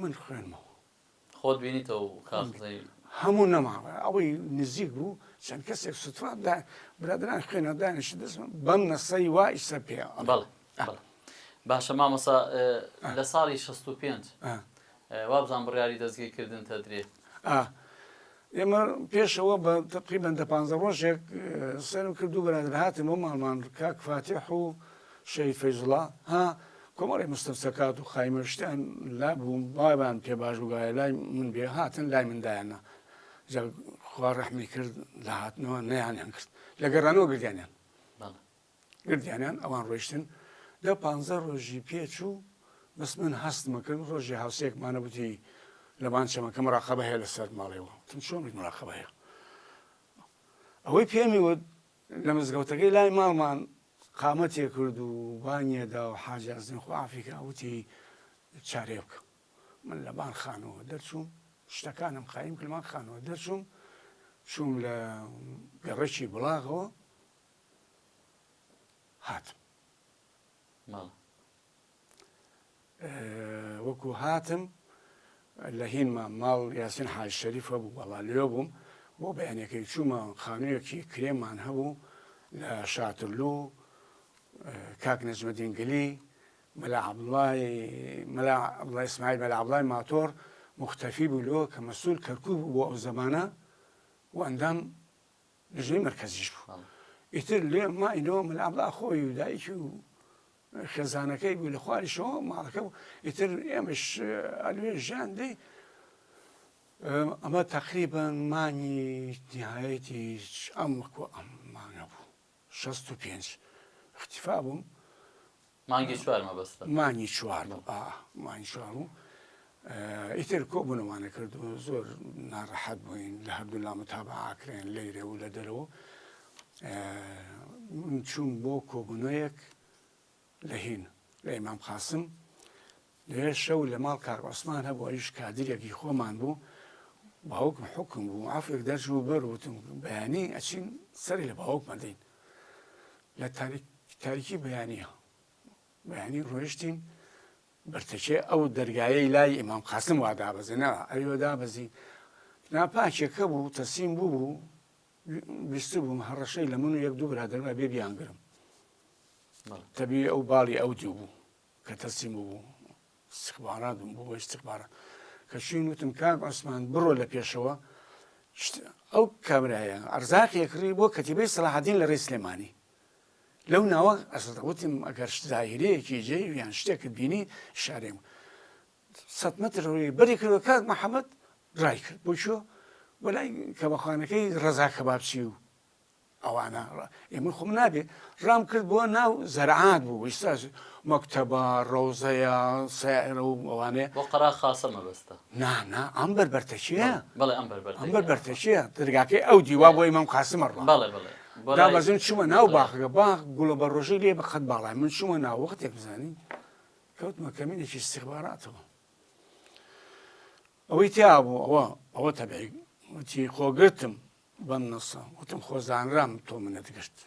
من خوێنمەوە خۆت بینیتەوە کاغزەی هەموو نەماوە ئەوەی نزیک بوو چەند کەسێک سوتراندا برادران خوێنە دانیشت دەستم بەم نەسەی وایسە پێ بەڵێ بەڵێ باشە مامۆستا لە ساڵی شەست و پێنج وابزانم بڕیاری دەستگیر کردنت ئەدرێ؟ ئا ئێمە پێشەوە بە تقریبا دە پانزە ڕۆژێک سەرم کرد دوو برادر هاتن بۆ ماڵمان کاک فاتیح و شەهید فەیزوڵا ها کۆمەڵی مستەفسەکات و خایمە شتیان لا بوو بابان پێ باش بگایە لای من بێ هاتن لای مندایانە خوا ڕەحمی کرد لە هاتنەوە نەیانیان کرد لە گەڕانەوە گردیانیان گردیانیان ئەوان ڕۆیشتن دە پانزە ڕۆژی پێ چوو بەس من هەستمە کردم ڕۆژێ هاوسێکمانە بوتی لەبان چەمەکە مراقبە هەیە لەسەر ماڵێەوە وتم چۆن بیت مراقبە هەیە ئەوەی پێمی وت لە مزگەوتەکەی لای ماڵمان قامەتێ کرد و بانیەدا و حاجازن خوافیکە وتی چارێ بکە من لە بان خانەوە دەرچووم شتەکانم قایم کلمان خانەوە دەرچووم چووم لە گەڕەکی بڵاغەوە هاتم. وەکو هاتم لە هینما ماڵ یاسین حاج شەریف هەبوو بەڵا لێ بووم بۆ بەیانەکەی چوومە خانوویەکی کرێمان هەبوو لە شاترلو کاک نەجمەدینگلی مەلا عبڵای مەلا عبڵای ئسماعیل مەلا عبڵای ماتۆر مختەفی بوو لۆ کە مەسول کەرکوو بوو بۆ ئەو زەمانە و ئەندام لیژنەی مەرکەزیش بوو ئیتر لێ ماینەوە من ئابلا خۆی و دایکی و خێزانەکەی بوو لە خواریشەوە ماڵەکە بوو ئیتر ئێمەش ئەلوێ ژیان دەی ئەمە تقریبان مانگی نهایەتی ئەم وەکو ئەم مانگە بوو 65 اختیفا بووم مانگی چوار مەبەستە. مانگی چوار بوو ئا مانگی چوار بوو ئیتر کۆبوونەوانە کرد و زۆر ناڕەحەت بووین لە هەردوولا متابعە کرێن لەیرێ و لە دەرەوە من چووم بۆ کۆبوونەوەیەک لە هین لە ئیمام قاسم لەوێ شەو لە ماڵ کاک عوسمان هەبوو ئەویش کادیرێکی خۆمان بوو باوکم حوکم بوو عەفوێک دەرچوو بەر وتم بەیانی ئەچین سەری لە باوکمە دەین لە تاریک تاریکی بەیانە بەیانی ڕۆیشتین بەرتەکێ ئەو دەرگایەی لای ئیمام قاسم وا دابەزێنا ئەوێ دابەزین ناپاکێکە بوو تەسیم بوو بوو ویست بووم هەڕەشەی لە من و یەک دوو برادرمە بێ بیانگرم تەبی ئەو باڵی ئەو دوو بوو کە تەسلیم بوو استخبارات بووم بۆ استخبارات کە چوین وتم کاک عوسمان بڕۆ لە پێشەوە ئەو کابرایە ئەرزاقی کڕی بۆ کەتیبەی سەلاحدین لە ڕێی سلێمانی لەو ناوە ئەسەوتم ئەگەر زاهرەیەکی جێ یان شتێکت بینی شارێم سە متر ڕووی بەری کردەوە کاک محەممەد ڕای کرد بۆ چۆ بەلای کەمەخانەکەی ڕزا کەبابچی و ئەوانە ئێمە خۆم نابێ ڕام کرد بۆ ناو زەرعات بوو ئیستا مەکتەبە ڕەوزەیە سیرە و ئەوانێ بۆ قەرا خاصە مەبەستە نانا ئەم بەربەرتەشیە بەڵێ ئەم بەربەر ئەم بەربەرتەشیە دەرگاکەی ئەو دیوا بۆ ئیمام قاسمە ڕوە بەڵێ بڵێ دابەزم چوومە ناو باخەکە باخ گوڵە بە ڕۆژی لێ بەخەت باڵای من چوومە ناو وەختێک بزانین کەوتمە کەمینێکی استخباراتەوە ئەوەی تیا بوو ئەوە ئەوە تەبعی وتی خۆگرتم بەم نەسە وتم خۆ زانرام تۆ منت گشت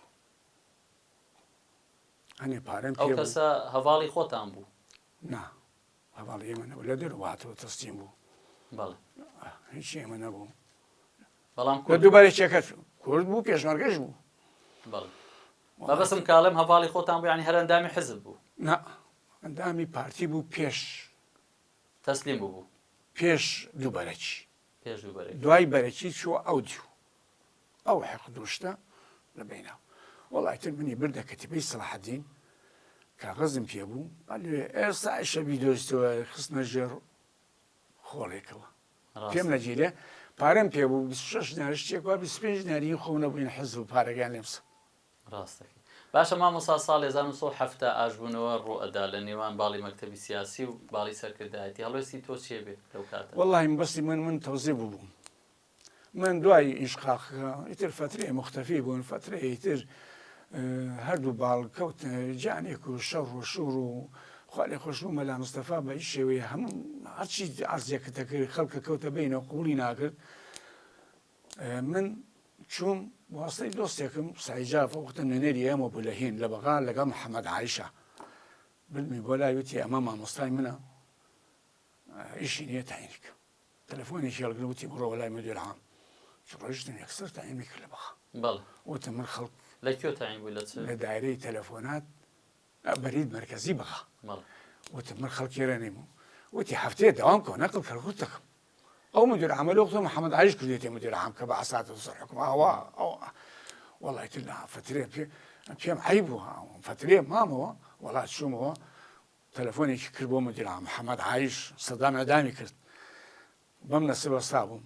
ئەنێ پارەم ئەو کەسە هەواڵی خۆتان بوو نا هەواڵ ئێمە نەبوو لە دەرواتەوە تەستیم بوو بەڵێ هیچ ئێمە نەبوو بەڵام کورد دووبارە چێکەت کورد بوو پێشمەرگەش بوو بەڵێ بەبستم کاڵم هەواڵی خۆتان بوو ینی هەرەندامی حزب بوو نا ئەندامی پارتی بوو پێش تەسلیم بوو پێش دووبارەکی پێش دوو بەرەکی. دوای بەرەکی چووە ئەو دیو ئەو حقد و شتە لە بەینا و وەڵا ئیتر منی بردە کەتیبەی سەڵاحەدین کاغەزم پێ بوو ئەلێ ئێستا ئیشە بیدۆزیتەوە خستنە ژێڕ خۆڵێکەوە پێم نەگیرێ پارەم پێ بوو بیست و شەش دینار شتێک وا بیست و پێنج دیناری خۆم نەبووین حەز و پارەکان لێم سەند ڕاست دەکەی باشە مامۆسا ساڵی هەزار و نۆ سەد و حەفتا ئاشبوونەوە ڕووئەدا لە نێوان باڵی مەکتەبی سیاسی و باڵی سەرکردایەتی هەڵوێستی تۆ چێ بێ لەو کاتە؟ وەڵاهی مەبەستی من من تەوزێ بووبووم من دوای ئینشقاقەکە ئیتر فەترەیە موختەفی بوون فەترەیەی تر هەردوو باڵ کەوت جانێک و شەڕ و شوڕ و خوا لێ خۆش بوو مەلا مستەفا بە هیچ شێوەیە هەموو هەرچی عەرزێکە دەکرد خەڵکە کەوتە بینەوە قوبوڵی ناکرد من چووم واسطەی دۆستێکم سەعی جاف ئەو وەختە نوێنەری ئێمە بوو لە هین لە بەغا لەگەڵ محەمەد عایشە بردمی بۆ لای وتی ئەمە مامۆستای منە ئیشی نییە تاینی کە تەلەفۆنێکی هەڵگرم وتی بڕۆوە لای مدیر عام چ ڕۆیشتم یەکسەر تاینی کرد لە بەغا بەڵێ وتم من خەڵک لە کوێ تاین بوو لە چ لە دایرەی تەلەفۆنات بەرید مەرکەزی بەغا بەڵێ وتم من خەڵکی رێ نیم وتی هەفتەیە دەوام کۆ نەقڵ کەلکوت دەکەم ئەو مدیر عامە لۆ قسە محمد علیش کردێتی مدیر عام کە بە عساتە سەر حکم ئاوا ئەو وڵای تر لا فترێ پێ پێم عی بوو ها فترێ مامەوە وڵا چوومەوە تەلەفۆنێکی کرد بۆ مدیر عام محمد عیش سەدام ئەدامی کرد بەم نەسەبە سا بووم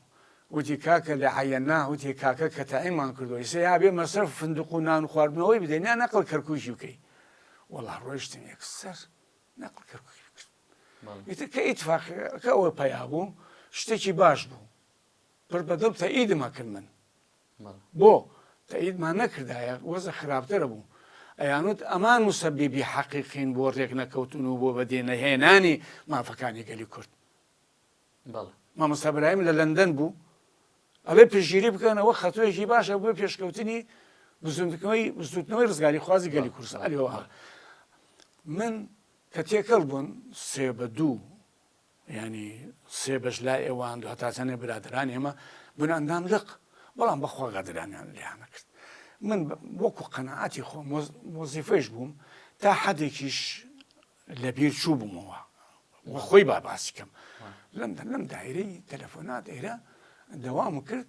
وتی کاکە لە عەننا وتی کاکە کە تاعیمان کردەوەی سێ یاێ مەسەر فندق و نان خواردنەوەی بدەین یا نەقل کەرکوشی بکەی وەڵا ڕۆیشتن یەکسەر نەقل کەرکوشی بکرد ئیتر کە ئیتفاقیەکە ئەوەپەیا بوو شتێکی باش بوو پڕ بەدڵ تەئیدم ئەکرد من بۆ تەئیدمان نەکردایە وەزع خراپتر بوو ئەیانوت ئەمان موسەبیبی حەقیقین بۆ ڕێک نەکەوتن و بۆ بەدێ نەهێنانی مافەکانی گەلی کورد مامۆستا برایم لە لەندەن بوو ئەڵێ پشگیری بکەنەوە خەتوەیەکی باشە بۆ پێشکەوتنی بزوندنەوەی بزوتنەوەی ڕزگاری خوازی گەلی کورسە ئەلێەوە من کە تێکەڵ بوون سێ بە دوو یانی سێ بەش لای ئێوان دو هەتا چەنێ برادران ئێمە بوون ئەندام لق بەڵام بەخوا غەدرانیان لیانەکرد من وەکو قەنەعاتی خۆ مۆزیفەیش بووم تا حەدێکیش لەبیر چوو بوومەوە وەخۆی با باسیکەم لەم لەم دایرەی تەلەفۆنات ئێرە دەوام کرد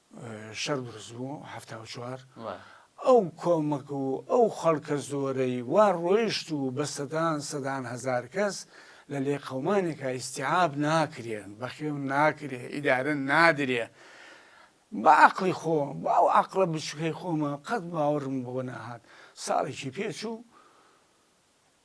شەر دروست بوو هەفتا و چوار ئەو کۆمەک و ئەو خەڵکە زۆرەی وا ڕۆیشت و بە سەدان سەدان هەزار کەس لە لێ قەومانێکا ئیستیعاب ناکرێن بەخێو ناکرێ ئیدارە نادرێ بە عەقڵی خۆ بە ئەو عەقڵە بچوکەی خۆمە قەت باوەڕم بەوە نەهات ساڵێکی پێچوو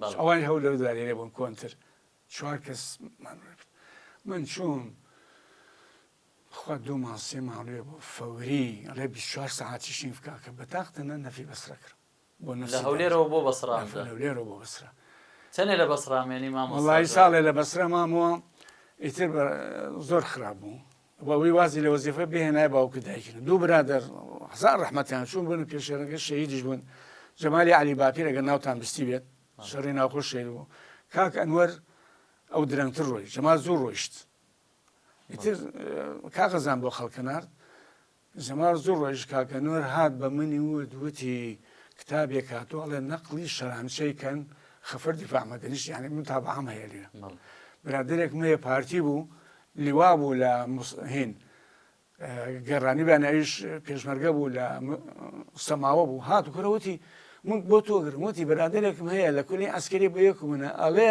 بەڵێ. ئەوانی هەولێر و دارێرە بوون کۆنتر چوار کەس مانوێ کرد من چووم بخوا دوو مانگ سێ مانوێ بوو فەوری ئەڵێ بیست چوار سەعاتیش نیم بکە کە بەتاق تەنە نەفی بەسرە کرد بۆ نەفسی لە هەولێرەوە بۆ بەسڕا دەرس لە هەولێرەوە بۆ بەسرە چەنێ لە بەسڕا مێنی مامۆستا وەڵایی جواد؟ ساڵێ لە بەسرە مامەوە ئیتر بە زۆر خراپ بوو بەوەی وازی لە وەزیفە بهێنای باوک و دایکن دوو برادەر هەزار ڕەحمەتیان چوون بوون و پێشێرەکە شەهیدیش بوون جەمالی علی باپیر ئەگەر ناوتان بستی بێت شەڕی ناوخۆش شەهید بوو کاک ئەنوەر ئەو درەنگتر ڕۆی جەمال زوو ڕۆیشت ئیتر کاغەزان بۆ خەڵکەنارد زمار زوو ڕۆیشت کاک ئەنوەر هات بە منی وت وتی کتابێک هاتوە ئەڵێ نەقڵی شەرانچەی کەن خفر دفاع مەدنیش یانی متابعەم هەیە لێرە برادەرێک مەیە پارتی بوو لیوا بوو لە هین گەڕانی بە ناویش پێشمەرگە بوو لە سەماوە بوو هات و کورەوتی من بۆ تۆگرم وتی برادێکم هەیە لە کولی ئەسکری بۆ یەکو منە ئەڵێ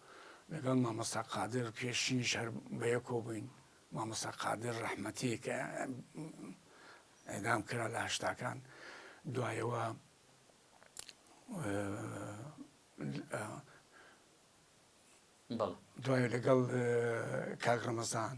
لەگەڵ مامۆستا قادر پێشینیش هەر بەیەکەوە بووین مامۆستا قادر ڕەحمەتی کە ئێدام کرا لە هەشتاکان دوایەوە دوای لەگەڵ کاک ڕەمەزان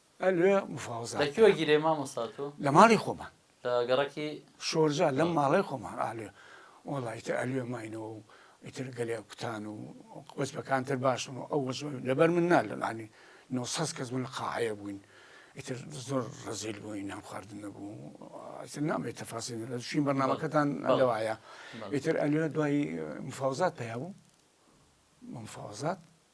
الوێ مفاوزات لە کوێ گیرێ مامۆستا تۆ؟ لە ماڵی خۆمان لە گەڕەکی شۆرجا لەم ماڵی خۆمان ئالێ وەڵا ئیتر ئەلوێ ماینەوە و ئیتر گەلێ کوتان و وەجبەکان تر باشن و ئەو وەجبە لەبەر من نا لەمانی 900 کەس بوون لە قاعەیە بووین ئیتر زۆر ڕزیل بووین نان خواردن نەبوو ئیتر نامێت تەفاسی لە شوین بەرنامەکەتان لەوایە ئیتر ئەلوێ دوای مفاوزات پیا بوو مفاوزات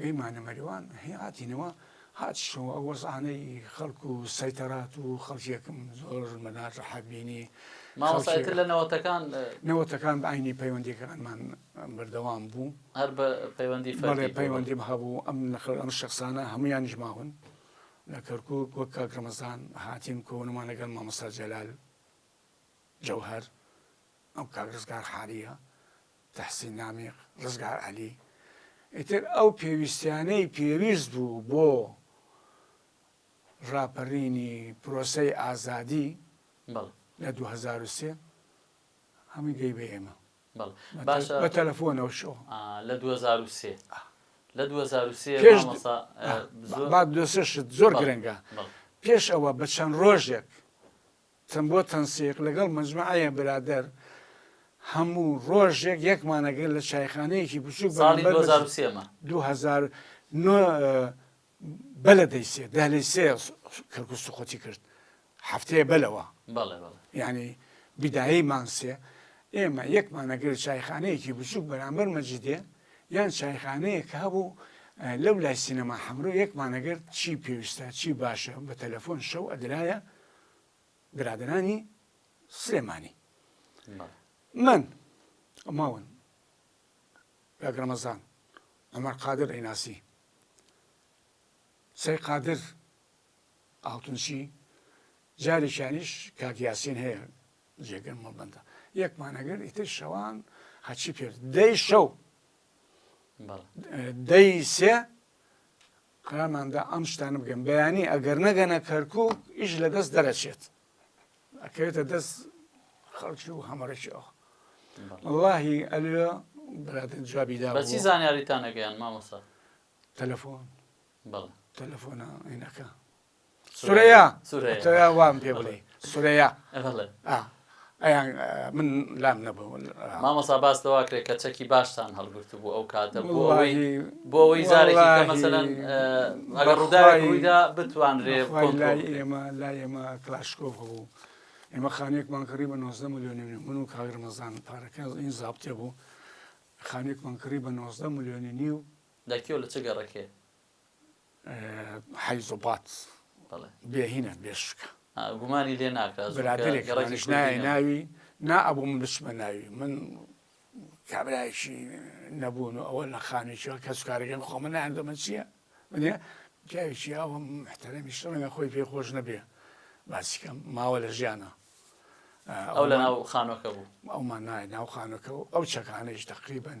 گەیمانە مەریوان هی هاتینەوە هاتشەوە ئەو وەزعانەی خەڵک و سەیتەرات و خەڵکێکم زۆر مەناجەحە بینی مامۆستا ئیتر لە نەوەتەکان نەوەتەکان بە عینی پەیوەندیەکانمان بەردەوام بوو هەر بە پەیوەندی فەرمی پەیوەندیم هەبوو ئەم نەخل ئەم شخصانە هەمویانیش ماون لە کەرکک وەک کاک ڕەمەزان هاتین کۆنمان لەگەڵ مامۆستا جەلال جەوهر ئەم کاک ڕزگار حالیە تەحسین نامیق، ڕزگار عەلی، ئیتر ئەو پێویستیانەی پێویست بوو بۆ ڕاپەرینی پرۆسەی ئازادی لە دوو هەزار و سێ هەمووی گەی بە ئێمە بە تەلەفۆنەوە شۆ لە دوو هەزار و سێ لە دوو هەزار و سێ پێش مەسا زۆر دۆسێشت زۆر گرنگە بەڵێ. پێش ئەوە بە چەند ڕۆژێک تن بۆ تەنسیق لەگەڵ مەجمەعەیە برادەر هەموو ڕۆژێک یەکمان ئەگرت لە چایخانەیەکی بچووک ساڵی بەرامبەر بە دوو هەزار و سێ مە. دوو هەزار نۆ بە لە دەی سێ دە لەی سێ کەرکووک سوقووتی کرد هەفتەیە بە لەوە بەڵێ بەڵێ یانی بیدایەی مانگ سێ ئێمە یەکمان ئەگرت چایخانەیەکی بچووک بەرامبەر مەجیدێ یان چایخانەیەک هەبوو لەو لای سینەما حەمرۆ یەکمان ئەگرت چی پێویستە چی باشە بە تەلەفۆن شەو ئەدرایە برادەرانی سلێمانی من ماون کاک ڕەمەزان عمر قادر ئەیناسی سەی قادر ئاڵتونچی جارێکیانیش کاک یاسین هەیە جێگر مەڵبندە یەکمانەگەر ئیتر شەوان هەچی پێ دەی شەو دەی سێ قەرارماندا ئەم شتانە بکەین بەیانی ئەگەر نەگەنە کەرکوک ئیش لە دەست دەرەچێت ئەکەوێتە دەست خەڵکی و هەمەڕێکی ئەو وڵاهی ئەلوێ برادن جوابی دا بەچی زانیاریتان نەگەیان مامۆسا تەلەفۆن تەلەفۆنە عینەکە سورەیە سورەیە وام پێ بڵێ سورەیە ئەیان من لام نەبوو مامەسا باس لەوا کرێت کە چەکی باشتان هەڵگرت بوو ئەو کاتە بۆەوەی بۆەوەی زارێکی مەسەەن ئەگەر ڕووداویدا بتوانرێ ئێمە لا ئێمە کلاشکۆف بوو ئێمە خانێکمان کڕی بە 90 میلیۆنی من و کاگرمەزان پارەکە این زابتێ بوو خانێکمان کڕی بە 90 میلیۆنی نیو لەکیۆ لە چ گەڕەکێ حیز و بات بێهینە بێشکە گومانی لێ ناکات برادێکڕێکش نایە ناوی نا ئەبوو من بچمە ناوی من کابراایشی نەبوون و ئەوە لە خانێکیەوە کەس کارەکەم خۆ من نایان دەمە چییە منە پیاوێکی ئەوم محتەرەمیش ڕەنگە خۆی پێ خۆش نەبێ باسیکەم ماوە لە ژیانە ئەو لە ناو خانۆکە بوو ئەومان نایە ناو خانەکە و ئەو چەکانەیش تقریبن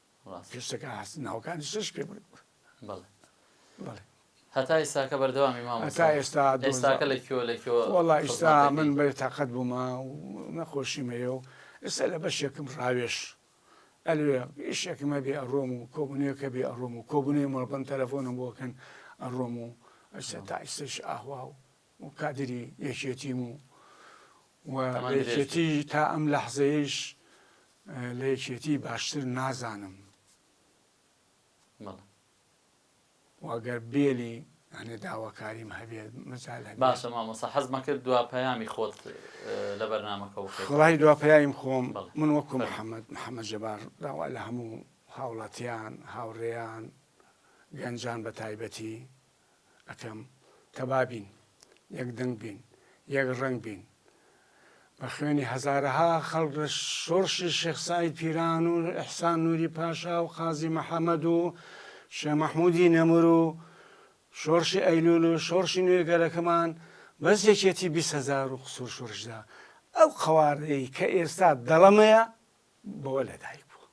ڕاستە. پێش تەکا هەست ناوەکانی شەش پێ بوون. بەڵێ. بەڵێ. هەتا ئیستاکە بەردەوامی مامۆستا؟ هەتا ئێستا دۆزا. ئێستاکە لە کوێوە لە کوێوە خزمەت دەکەی؟ وەڵا ئیستا من بێ تاقەت بوومە و نەخۆشیم هەیە و ئێستا لە بەشێکم ڕاوێژ ئەلێ ئیشێکم هەبێ ئەڕۆم و کۆبوونەوەیەک هەبێ ئەڕۆم و کۆبوونەوەی مەڵبەند تەلەفۆنم بۆ ئەکەن ئەڕۆم و ئیستا تا ئیستاش ئاهوا و و کادری یەکێتیم و و تەمەن لە درێژ بێت. یەکێتی تا ئەم لەحزەیەیش لە یەکێتی باشتر نازانم بەڵێ. و گەر بێلی یانێ داواکاریم هەبێ مەجال هەبێ باشە مامۆستا حەزمە کرد دوا پەیامی خۆت لە بەرنامەکە بکەیت وەڵاهی دوا پەیایم خۆم بەڵێ. من وەکو فەرموو. محەمەد محەمەد جەبار داوا لە هەموو هاوڵاتیان هاوڕێیان گەنجان بە تایبەتی ئەکەم کە بابین یەک دەنگ بین یەک ڕەنگ بین بە خوێنی هەزارەها خەڵک لە شۆڕشی شێخ سعید پیران و ئەحسان نوری پاشا و قازی محەممەد و شێ مەحمودی نەمر و شۆڕشی ئەیلول و شۆڕشی نوێ گەلەکەمان بەس یەکێتی بیست هزار و قسوور شۆڕشدا ئەو قەوارەی کە ئێستا دەڵەمەیە بەوە لەدایک بوو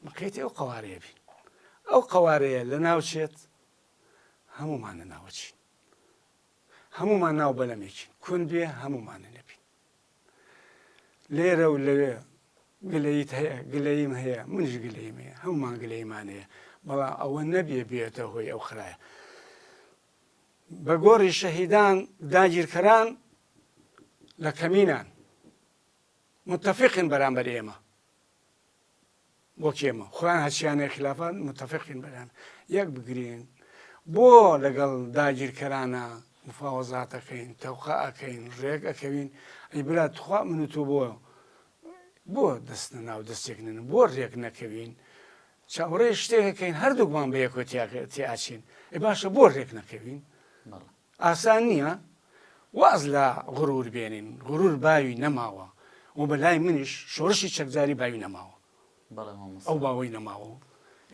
مقەیتی ئەو قەوارەیە بین ئەو قەوارەیە لەناوچێت هەموومان لەناوەچین هەموومان ناو بەلەمێکین کون بێ هەموومانە نەبین لێرە و لەوێ گلەیت هەیە گلەیم هەیە منش گلەیم هەیە هەمومان گلەیمان هەیە بەڵام ئەوە نەبێ بێتە هۆی ئەو خراە بە گۆڕی شەهیدان داگیرکەران لە کەمینان متفقن بەرامبەر ئێمە وەک ئێمە خۆیان هەرچیانەیە خلافان متفقین بەریان یەک بگرین بۆ لەگەڵ داگیرکەرانە مفاوەزاتەکەین تەوقە ئەکەین ڕێک ئەکەوین ئەی برا تخوا من و تۆ بۆ بۆ دەستە ناو دەستێک نن بۆ ڕێک نەکەوین چاوەڕێ شتێکەکەین هەردووکمان بە یەکۆتیاکە تیاچین ئەی باشە بۆ ڕێک نەکەوین ئاسان نیە واز لە غرور بێنین، غرور باوی نەماوە و بە لای منیش شۆرشی چەکداری باوی نەماوە بەڵێ مامۆستا. ئەو باوەی نەماوە و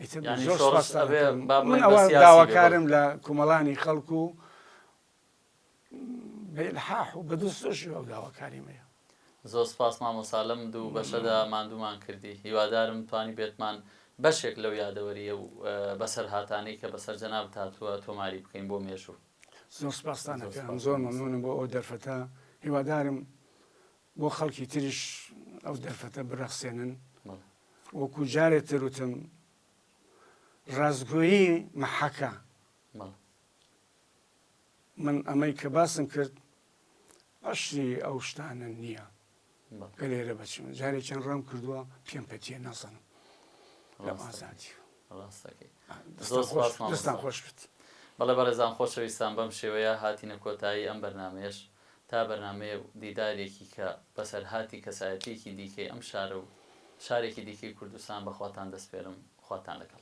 ئیتر یانی زۆر شۆڕش سوپاستان ئەبێ ئەکەم با من بڵێین بە ئەوە سیاسی بێ داواکارم بەڵێ. لە کومەڵانی خەڵک و بە ئیلحاح و بە دڵسۆشیەوە ئەو داواکاریمەیە. زۆر سپاس مامۆسا لەم دوو بەشەدا ماندوومان کردی هیوادارم توانیبێتمان بەشێک لەو یادەوەرییە و بەسەرهاتانەی کە بەسەر جەنابت هاتووە تۆماری بکەین بۆ مێژوو. زۆر سپاستان ئەکەم زۆر مەمنونم بۆ ئەو دەرفەتە هیوادارم بۆ خەڵکی تریش ئەو دەرفەتە برەخسێنن وەکو جارێ تر وتم ڕاستگۆیی مەحەکە من ئەمەی کە باسم کرد ئەسڵی ئەو شتانە نییە کە لێرە بەچم جارێکیان ڕام کردووە پێم پەتیە نازانم لەم ئازادی دەستان خۆش بێت بەڵێ بەڕێزان خۆشەویستان بەم شێوەیە هاتینە کۆتایی ئەم بەرنمەیەش تا بەرنمەیە و دیدارێکی کە بەسەرهاتی کەسایەتیەکی دیکەی ئەم شارە و شارێکی دیکەی کوردستان بەخواتان دەسپێرم خواتان لەگەڵ.